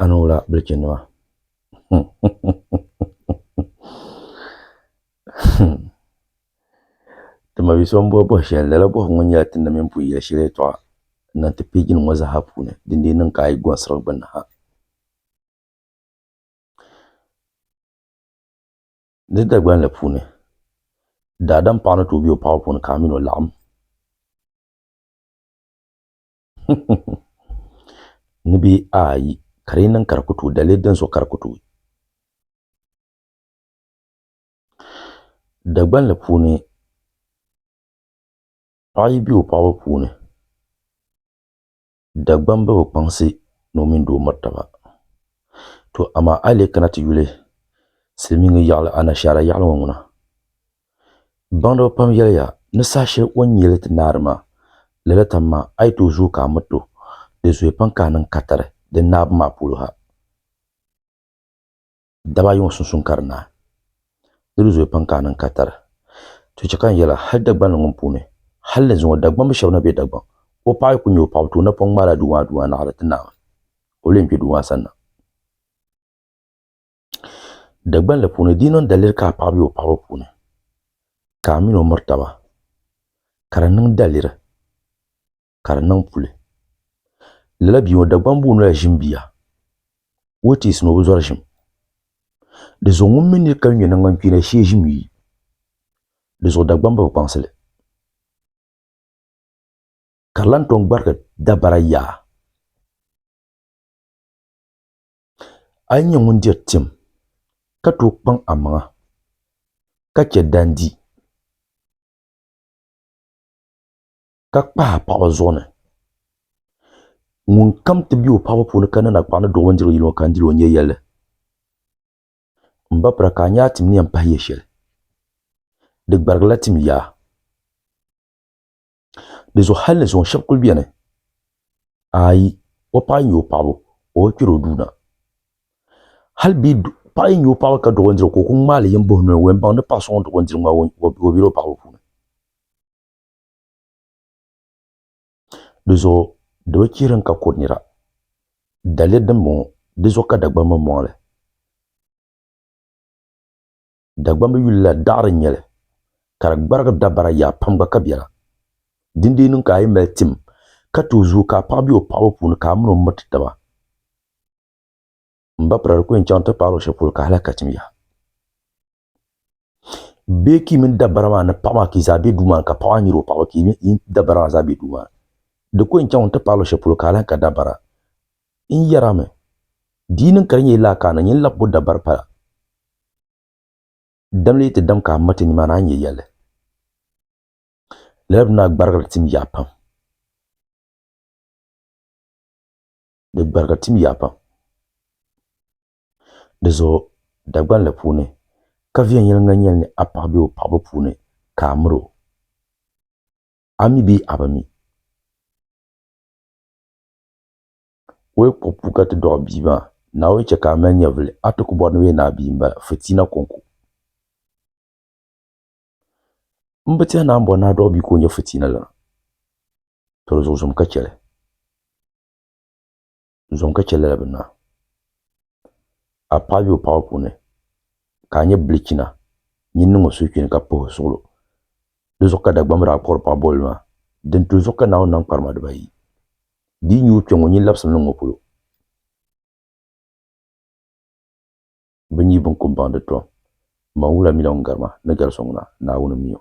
A ni wula bilichi nima ti ma so n bɔhi bɔhi shɛli lala bɔhi ŋɔ nyɛla ti ni mini pun yɛli shɛli yɛltɔɣa n niŋ ti pɛji nim ŋɔ zaa puuni din dii niŋ ka a yi gɔnsiri di gbunni ha Di Dagbaŋ la puuni, daadam paɣa ni tooi be o paɣaba puuni ka a mini o laɣim. Ni bɛ ayi ka di yi niŋ ka di ku tuui, dali yi dinzuɣu ka di ku tuui. Dagbaŋ la puuni, paɣa yi be o paɣaba puuni, Dagbamba bi kpaŋsi ni o mini doo miri taba. To amaa a yi lee kana ti yuli silimiiŋga yaɣili Anashaara yaɣili ŋɔ ŋuna, baŋdiba pam yɛliya ni saha shɛli o ni nyɛ li ti naari maa, lala tam maa a yi tooi zooi ka a miri to, di zoya pam ka a niŋ katari di naabu maa polo ha. Daba ayi ŋɔ sunsuuni ka di naai. Di bi zooi pam ka a niŋ katari. To chɛ ka n yɛli a, hal Dagbanli ŋɔ puuni, hal ni zuŋɔ Dagbamb shɛba na be Dagbaŋ, o paɣ yi ku nya o paɣibu ti o napɔŋ ŋmaai la duu maa duu maa naɣiri ti Naawuni, ka o lee kpe duu maa sanna. Dagbanli puuni, di yi niŋ daliri ka a paɣ be o paɣibu puuni, ka a min o miri taba, ka di niŋ daliri. ka di niŋ puli lala bia ŋɔ Dagbaŋ buu noli ʒim bia o yi teesi ni o bi zɔri ʒim di zuɣu ŋun mi ni ka ŋmɛ nangbani kpeeni shee ʒim yi di zuɣu Dagbaŋ bi bi kpaŋsi li ka di lahi tom gbariti dabara yaa a yi nyɛ ŋun diri tim ka tooi kpaŋ a maŋa ka chɛ dandi ka kpahi a paɣaba zuɣu ni ŋunkam ti be o paɣaba puuni ka niŋdi a paɣa ni doo bindirigu yili ŋɔ ka n dil o n nya yɛlli. M ba pira ka a nya a tim ni yɛn pahi ya shɛli. Di gbarigila tim yaa. Dizuɣu hal ni zuŋɔ shɛba kul beni? Aai! O paɣa yi nya o paɣaba, o bi kpir o duu na. Hal bɛ paɣa yi nya o paɣaba ka duɣi bindirigu ka o ku ŋmaai li yini buhi noli wɛmbaŋ ni paɣ so ŋun duɣi bindirigu maa o bela o paɣaba puuni. Di zuɣu di bi chihiri n ka kuri nira. Daliya din bɔŋɔ di zuɣu ka Dagbamb maa mɔɣili. Dagbamb yuli la daɣiri n nyɛli ka di gbarigi dabara yaa pam gba ka bela. Din dee niŋ ka a yi mali tim ka ti o zuɣu ka a paɣa be o paɣaba puuni ka a min o miriti taba m ba pira di ku yɛn chaŋ ti paari o shɛli polo ka hali a ka tim yaha. bee ka yi mini dabara maa ni paɣa maa ka yi zaa bɛ duu maa ni ka paɣa maa nyɛla o paɣaba ka yi mini dabara maa zaa bɛ duu maa ni di ko n chɛŋ n ti paai luɣu shɛli polo ka a lahi ka dabara n yɛrimi di yi niŋ ka di nyɛla lala ka a na nyɛ n lahi bo dabari pala dam lee ti dam ka a mati nimaani a ni nyɛ yɛlli lala bini maa gbarigiri tim yaa pam di gbarigiri tim yaa pam Di zuɣu Dagban la puuni ka viɛnyɛliŋga nyɛli ni a paɣa be o paɣibu puuni ka a miri o. A mi bee a bi mi? O yi kpuɣi puu ka ti dɔɣi bia maa, naa o yi chɛ ka a mali nyɛvili, a ti ku bɔri ni o yɛn naa bia m-bala, Fitiina Kɔŋko. M bi tɛhi naa m-bɔri ni a dɔɣi bia ka o nyɛ fitiina la, tɔ di zuɣu zom ka chɛ li. zuɣu ka chɛ lala bi naa. A paɣa be o paɣibu puuni ka a nya bilichina nyin niŋ o suhukpini ka puhi o suɣilo. Di zuɣu ka Dagbamba daa kpuɣiri paɣ bolli maa, Dintuli zuɣu ka Naawuni nam kparima dibaayi. Di yi nyuui kpiɔŋ ŋɔ nyin labisimi niŋ ŋɔ polo. Bɛ nyi binkumbaŋ di tom, Maŋwula mila ŋun garima ni gari so ŋuna, Naawuni m-mi o.